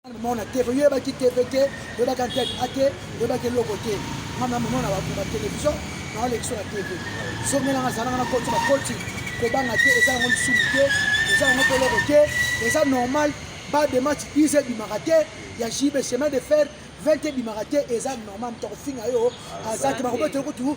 mona te ko yeba ki TV te yeba ka tête ate yeba ke loko te mama mona ba ba télévision na le sur la TV so mena na zana na koti ba koti ko banga te eza ngo su te eza ngo ko loko te eza normal ba de match ils et bimaka te ya JB chemin de fer 20 bimaka te eza normal to ko finga yo azaki ba ko betre ko tu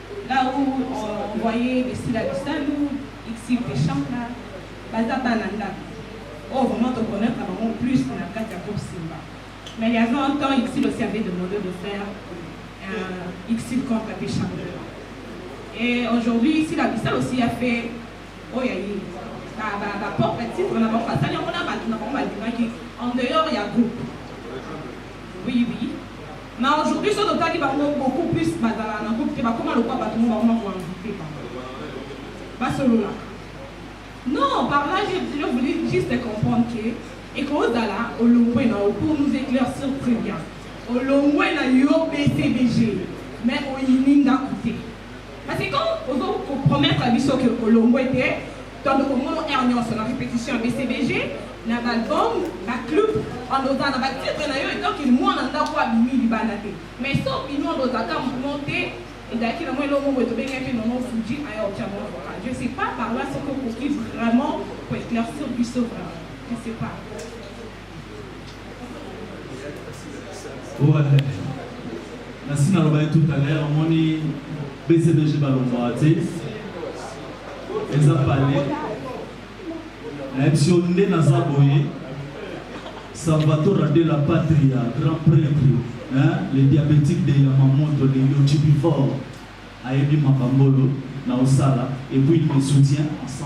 Là où on voyait les Sila Bisalu, Ixiv Deshanga, baza bana ndako. Oh, vraiment, te connaître vraiment plus dans la carte à Groupe Simba. Mais il y avait un temps, Ixiv aussi avait demandé de faire un Ixiv contre Deshanga. Et aujourd'hui, Sila Bisalu aussi a fait, oh, ya ye, ba, ba, ba propre titre, na bango basali yango na bato na bango balingaki en dehors ya groupe. Oui, oui. Mais aujourd'hui soki totali bango beaucoup plus bazalaka na groupe te bakoma lokola bato moko bakoma ko envoute bango basololaka non par là je voulais juste comprendre que ekozala olongwe na yo pour nous éclaircir très bien olongwe na yo bcbg mais oyini ndako te parce que quand ozo kopromettre biso ke olongwe te Tondoko komono heure nyonso na repetition ya BCBG na ba album ba club on oza na ba titre na yo et donc mwana ndako abimi libanda te mais so bino on oza ka mouvement te ezalaki na mwa eloko moko tobengaki nono fuji aya otya mwa vocal je sais pas par là soki okoki vraiment koeclaircir biso vraiment je sais pas nasi nalobaki tout à l'heure omoni bcbg balongwaka te eza pale nayebisi yo nde naza boye salvatora de la patria grand prêtre hein, le diabétique de yamamoto le yochibifor ayebi makambolo na osala et puis il me soutient à 100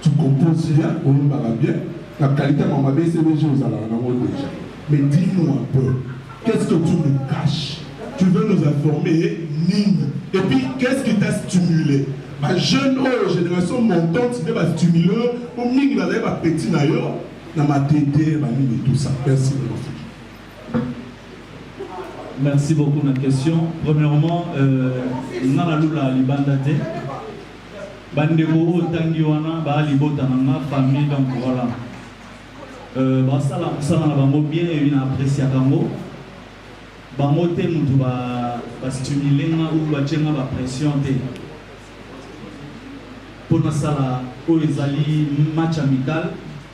Tu composes bien, oyembaka bien, na qualité ma mabe CBG ozalaka nango deja. Mais dis-nous un peu, qu'est-ce que tu nous caches? Tu veux nous informer nini? Et puis qu'est-ce qui t'a stimulé? Ba jeune oyo génération montante nde ba stimulé po mingi bazali ba petit na yo na matete ba nini tout ça. Merci beaucoup. Merci beaucoup na question. Premièrement, euh, nga na lula libanda te. Bandeko oyo tangi wana ba libota na nga famille donc voilà. Euh, basala mosala na bango bien ebi na appréciaka yango bango te motu bastimule nga ou batye nga bapression te mpo nasala oyo ezali match amical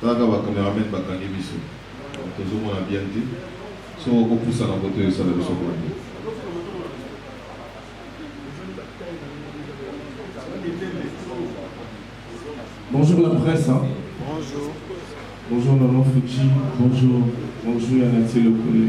Kaka ba cameramen bakangi biso tozomona bien te soki okopusa na koto esala biso boni Bonjour la presse. Hein. Bonjour. Bonjour Maman Fuji. Bonjour. Bonjour Yanati Lokole.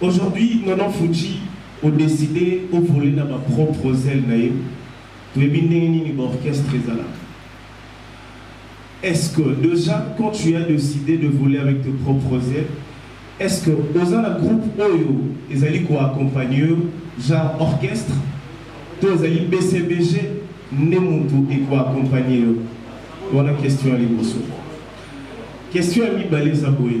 Aujourd'hui maman Fuji o decide o voler na ba propres ailes na yo toyebi ndenge nini ba orchestre ezalaka Est-ce que déjà quand tu as décidé de voler avec tes propres ailes est-ce que oza na groupe oyo ezali ko accompagner yo genre orchestre to ezali BCBG nde mutu eko accompagner yo wana question ya liboso question ya mibale eza boye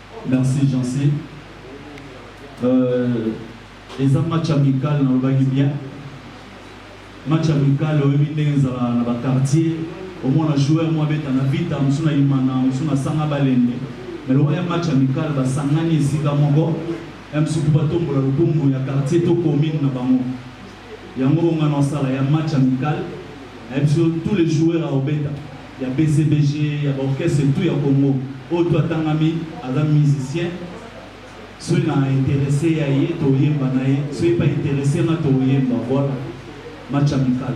Merci Jeancy. Euh, eza match amical nalobaki bien match amical oyebi ndenge ezala na baquartier omona joueur mwa beta na vita mosu na imana mosu na sanga balende me lokola ya match amical basangani esika moko ya mosuku batombola lokumu ya quartier to commune na bango Yango oyo nga na osala ya match amical nayebi biso tous les joueurs à obeta ya BCBG ya ba orchestre tout ya Congo oyo tout atangami aza musicien soki na interesse ya ye toyemba na ye soki pa interesse nga toyemba voilà match amical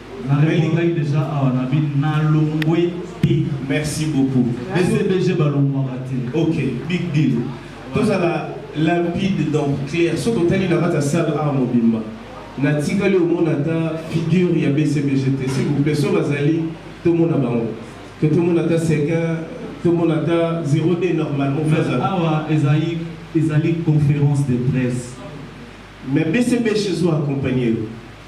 Naleli ngai deja awa na bi nalongwe te. Merci beaucoup. BCBG balongwaka te. Ok, big deal. Tozala limpide donc clair soki otali na kati ya salle awa mobimba natikali omona ata figure ya bcbg te s'il vous plaît soki bazali tomona bango to tomona ata sekin tomona ata 02 normalement awa ezali ezali conférence de presse mais bcbg ezo accompagne yo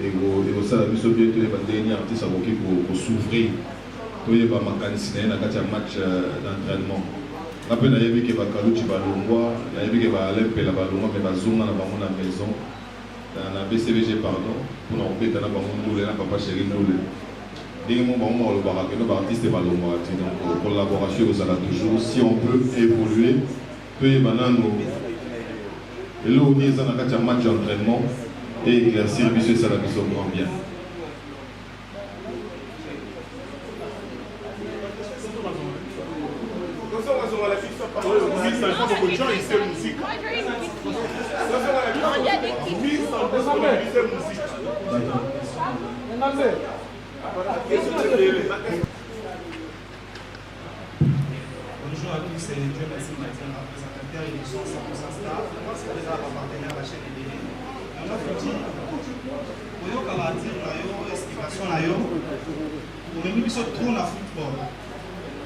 Ekosala biso bien toyeba ndenge nini artiste akoki ko s'ouvrir, toyeba makanisi na ye na kati ya match d'entrainement. Nga mpe nayebi ke ba Kaluji balongwa, nayebi ke ba Alain Mpela balongwa mais bazonga na bango na maison, na BCBG pardon, mpo na kobeta na bango ndule na Papa Cheri ndule. Ndenge moko bango moko balobaka que non ba artistes balongwaka te, donc collaboration ekozala toujours si on peut evoluer Toyeba nanu eloko nini eza na kati ya match entraînement et éclaircir biso esala biso grand bien. Thank you. Bonjour à tous, c'est Dieu merci Matin, ma présentateur et son 100% star. Moi, c'est déjà ma partenaire, la chaîne Ebele. On a foutu, oyoka ba dire na yo, explication na yo, omemi biso trop na football.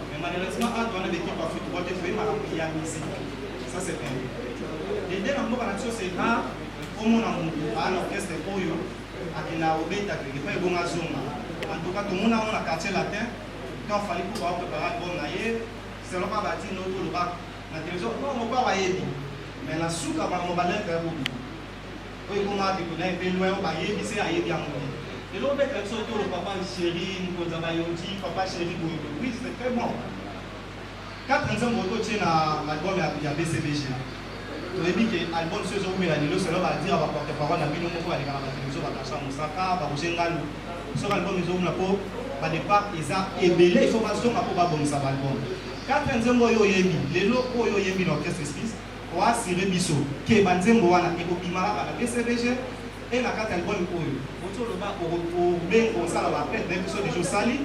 Mais malheureusement, add wana l'équipe ya football te foye makambo ya musique. Ça c'est vrai. Dede na mboka na biso c'est rare omona motu aa na orchestre oyo akenda obeta kende mpe ebonga zonga. En tout cas, tomona yango na quartier latin, Quand Fally Ipupa a préparé album na ye, selon kaka ba tino to loba na télévision, oh mopao ayebi. Mais na suka ba mo ba lettre ya bobi. Oyo ekoma biko na pe loin ba yebi se ayebi yango. Et l'autre bête avec son tour, papa chéri, nous avons dit, papa chéri, oui, c'est très bon. Quatre nzembo oto tie na l'album ya ya BCBG. Toyebi ke album so ezo wumela lelo selon ba dire ba porte parole na bino moko baleka na ba television ba Gasha Mosaka, ba Roger Ngalu. Soki album ezo wumela po ba depart eza ebele il faut ba zonga po ba bongisa ba album. Quatre nzembo oyo oyembi lelo oyo oyembi na orchestre Esquisse o assurer biso ke ba nzembo wana eko bima kaka na BCBG et na kati ya album oyo. Ozo loba o o benga osala ba fete na biso deja osali.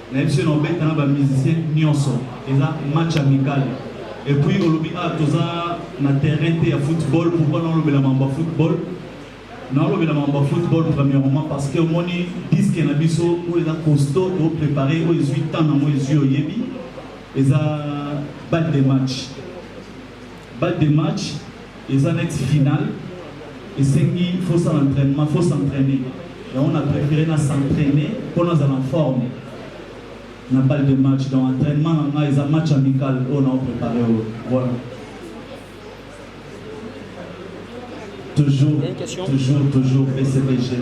na biso na obeta na ba musiciens nionso eza match amical et puis olobi ah toza na terrain te ya football pourquoi naolobela mambo ya football naolobela mambo ya football premièrement parce que omoni disque na biso oyo eza costaud toprépare oyo ezwi temps nango ezwi oyebi eza balle de match Ba de match eza neti finale esengi faut ça entraînement faut s'entraîner yango na préféré na s'entraîner mpo nazala en forme na balle de match donc entraînement na ngai eza match amical oyo nao préparé oyo voilà toujours toujours toujours bcbg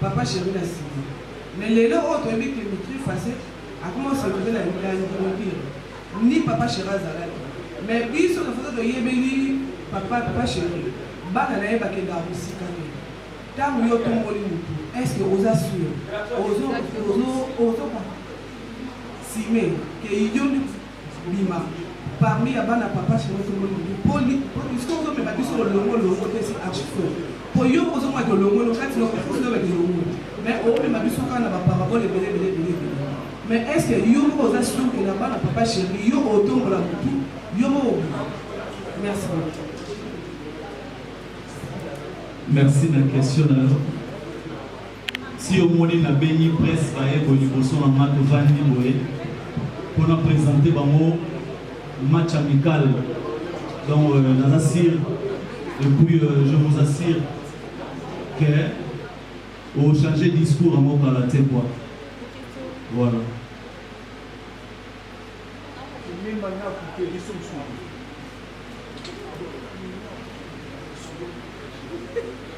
Papa cheri na sima mais lelo oyo toyebi ke mitri fase akoma soluve na ndimobiro ni papa cheri azalaki mais biso na foto toyebeli papa papa cheri bana na ye bakendaka mosika te ntango yo tomboli motu estce oza sur ozo ozo ozo sime ke idiombi Bima parmi ya bana papa chéri tomoni nini po puisque ozomema biso olongo longo te si archifo po yo ozonga ke olongo longo kati loko fo ozonga ke longo mais omema biso kaka na baparabole ebele ebele ebele ebele mais est ce que yo moko oza sur ke na bana papa chéri yo otombola motu yo moko obima merci beaucoup merci na question na yo Si omoni na bengi presse baye boye liboso na nga tovandi boye pona presenter bango match amical donc euh, naza sur et puis euh, je vous assure que au changer discours yango kala te quoi voilà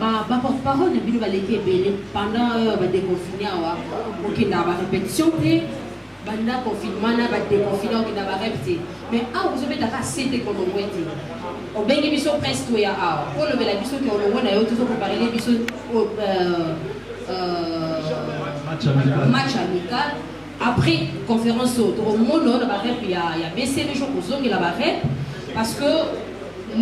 ba ba porte parole na bino baleki ebele pendant euh, ba déconfiné awa okendaka ba répétition te banda confinement na ba déconfiné okenda ba rep te mais awa ozobetaka sete kolongwe te obengi biso presse toya awa olobela biso ke olongwe na yo tozokoparele biso euh, euh, match amical Après conference oyo tokomono na ba rep ya ya BCB jo kozongela ba rep parce que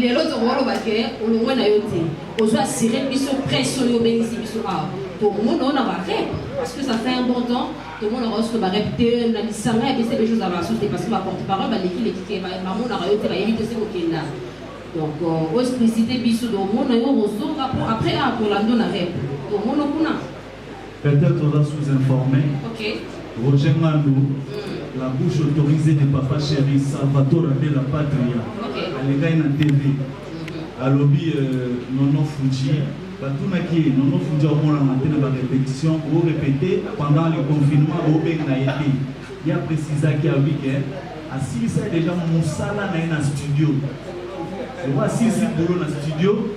lelo tokoloba ke olongwe na yo te ozo assurer biso presse oyo obengisi biso awa tokomono na ba rep parce que ça fait un bon temps tomonaka yo soki ba rep te na lisanga ya BCB jo ozala basusu te parce que ba porte parole baleki leki te bamonaka yo te bayebi te soki okenda donc euh, oexplicite biso tokomono yo kozonga po après akolando na rep tokomono kuna Peut-être oza sous-informé. Ok. Roger Ngandu, mm. la bouche autorisée de Papa Chéri, Salvatore de la Patria, okay. alekaki na TV. Mm-hmm. Alobi euh, Nono Fuji, batunaki ye Nono Fuji amonana te na barépétition, orépété pendant le confinement, obenga ye te. Ye aprécisaki alobi ke asilisaki déjà mosala na ye na studio. Oyo asilisi bolo na studio,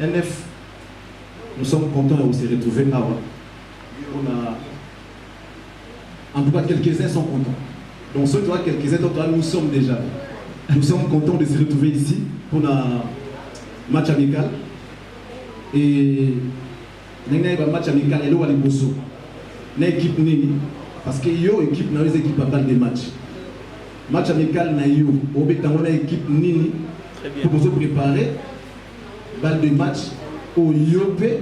NF, nous sommes contents ya ko se retrouver awa pona en tout cas quelques uns sont contents donc soki toza quelques uns totoa nous sommes déjà nous sommes contents de se retrouver ici pona match amical et ndenge nayeba match amical eloko ya liboso na équipe nini parce que yo équipe na yo eza équipe ya balle de match match amical na yo obeta yango na équipe nini Très bien. mpo bozo prépare Balle de match oyo yo mpe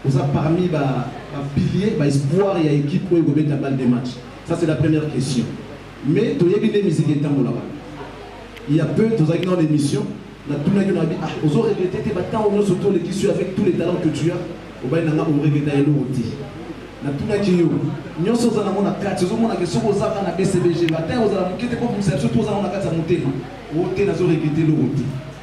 oza parmi ba ba piliers ba espoir ya equipe oyo ekobeta balle de match ça c'est la première question mais toyebi nde miziki etambolaka il y a peu tozalaki nao na émission natunaki na bi ah ozo regrete te batango nyonso to olekisi avec tous les talents que tu as obai na nga oregreta eloko te natunaki yo nyonso oza nango na kati ozomona ke soki ozaka na bcbg batango ozala moke te kobimisa biso to ozango na kati ya motema o te nazo regrete eloko te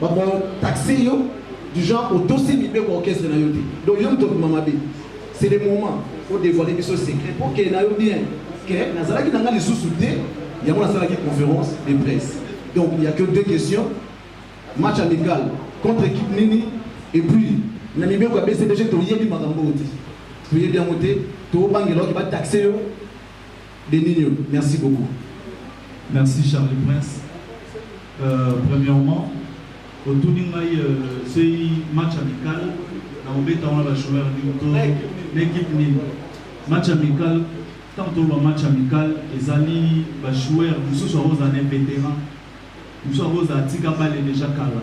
Bako taxer yo du genre otosi mibeko orchestre na yo te. Donc yo moto obima mabe. C'est le moment o dévoiler biso secret pour que na yo bien que nazalaki na nga lisusu te yango nasalaki conférence de presse. Donc il y a que deux questions. Match amical contre équipe nini et puis na mibeko ya BCBG toyebi makambo oyo te. Toyebi yango te, tobangela oyo ba taxer yo Deninho merci beaucoup. Merci Charlie Prince. Euh, premièrement, otuni ngai euh, soki match amical na obeta wana ba joueur nini to na équipe nini match amical tant toloba match amical ezali ba joueur mosusu akozala na vétéran mosusu akozala atika bale déjà kala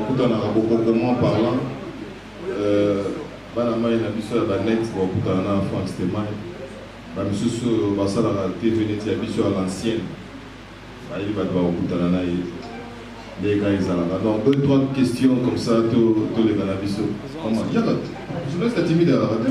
Okutanaka bokokoman parlant bana mayi na biso ya ba net bakokutana na Franck Stemay ba misusu oyo basalaka TV neti ya biso ya l'ancienne bayebi bato bakokutana na ye nde ka ezalaka donc deux trois questions comme ça toleka na biso yaka journaliste atimide alaka te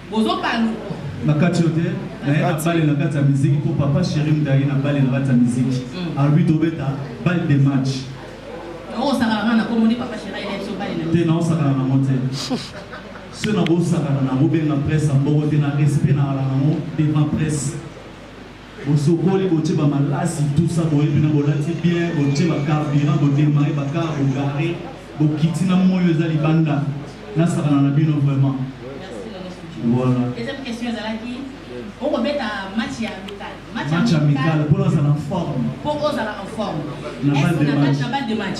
Bozo baluka. Na kati yo te, na ye na bale na kati ya miziki mpo papa chéri mutaye na bale na kati ya miziki. Mm. Alobi tobeta bale de match. Oko sakala nga na kombo ni papa chéri ayela biso bale na. Te na osakala na mote. Ceux na bosakana na bobenga presse ya mboko te na respect na ala na ngo devant presse. Bosokoli botie ba malasi tout ça boyebi na bolati bien botie ba carburant bo démarrer ba car bo garer bokiti na moyo eza libanda nasakana na bino vraiment voilà deuxième question ezalaki okobeta match ya amical match amical mpo nazala en forme mpo ozala en forme na balle de match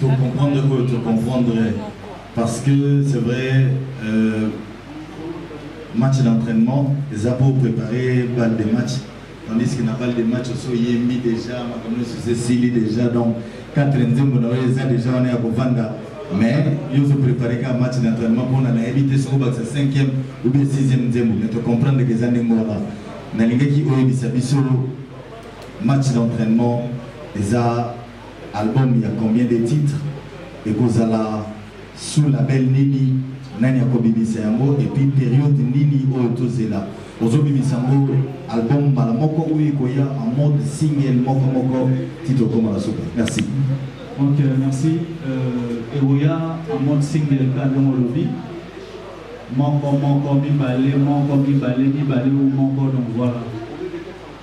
To comprendre oyo to comprendre parce que c'est vrai euh, match d'entraînement eza pour préparer balle de match tandis que na balle de match oso yembi déjà makambo nyonso eza esili déjà donc quatre nzembo na oyo eza déjà wana ya kovanda mais yo ozo préparer kaka match d'entraînement mpona nayebi te soki obakisa cinquième ou bien sixième nzembo mais tocomprendre ke eza ndenge wana nalingaki oyebisa biso match d'entraînement eza Album ya combien de titres? Ekozala sous label nini? Nani akobimisa yango? Et puis periode nini oyo tozela? Ozobimisa yango album mbala moko ou ekoya en mode single moko moko ti tokoma na suka? Merci. Ok, merci. Euh, ekoya en mode single kaka ndenge olobi moko moko mibale moko mibale mibale ou moko donc voilà.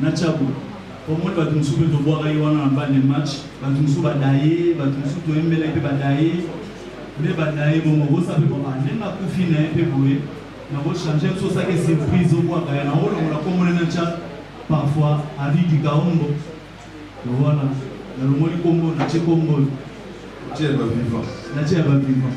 na Tshabu omoni bato mosusu mpe tobwaka ye wana na bal de match bato mosusu badaye bato mosusu toyembela ye mpe badaye nde badaye bongo bosa mpe papa ndenge akufi na ye mpe boye nakochange biso osaki surprise obwaka ye naolongola komona na tya parfois avis du kaombo wana nalongoli kombo natye kombo natye ya bavivant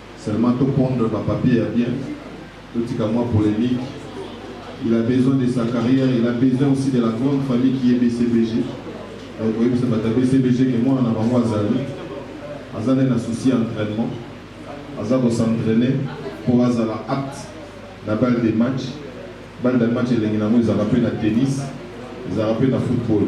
Seulement to pondre ba papiers ya bien, totika mua polemique. Il a besoin de sa carrière, il a besoin aussi de la grande famille qui est BCBG. Donc oyebisa bato ya BCBG ke mwana na bango azali, aza nde na souci ya entraînement, aza ko s'entraîner mpo azala apte na balle de match. Balle de match elengi na yango ezalaka mpe na tennis, ezalaka mpe na football.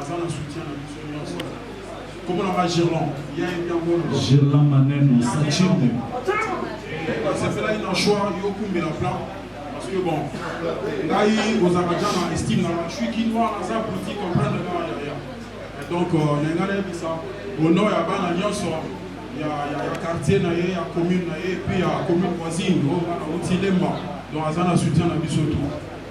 aza na soutien na biso nyonso kombo na nga girlan ya ye biangolo girlan maneno sachinde nasepelaki na choix yokumbela plan parce que bon ngai ozalaka ja na estime na nga suis kinois naza politique comprendre nga yaya donc euh, na ngai nayebisa honor ya bana nyonso ya quartier na ye ya commune na ye mpe ya commune voisine oyo nga nauti lemba donc aza na soutien na biso tout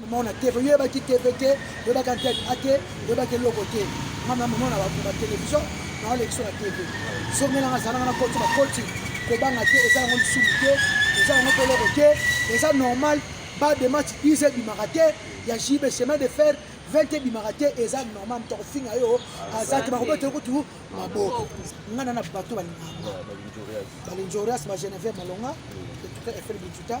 Maman na TV, yo baki TV te, yo baka tête à te, yo baki loko te. Maman maman na ba télévision, na le sur la TV. So mena na zana na koti ba koti, ko banga te, eza ngo sumu te, eza ngo pelo ko te, eza normal, ba de match 10 bi marate, ya JB chemin de fer, 20 bi marate, eza normal, to ko finga yo, azaki ba ko beto ko tu maboko. Ngana na bato ba ni. Ba linjorias ba Genève malonga, tout à fait bituta.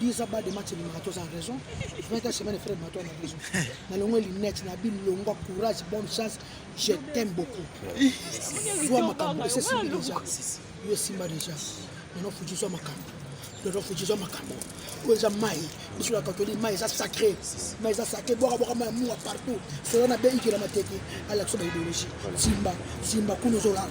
10 ans bas de match elimaka toza na raison 20 ans semaine frère mato na raison na longo lunette na bilongwa courage bonne chance je t'aime beaucoup zwa makambo esesimbi deja yo esimba deja nano futi zwa makambo nano futi zwa makambo oyo eza mai biso na katoli mai eza sacré mai eza sacré bwaka bwaka mai ya mua partout solo na be ikela mateke alakisa ba idéologie simba simba kuna ozolala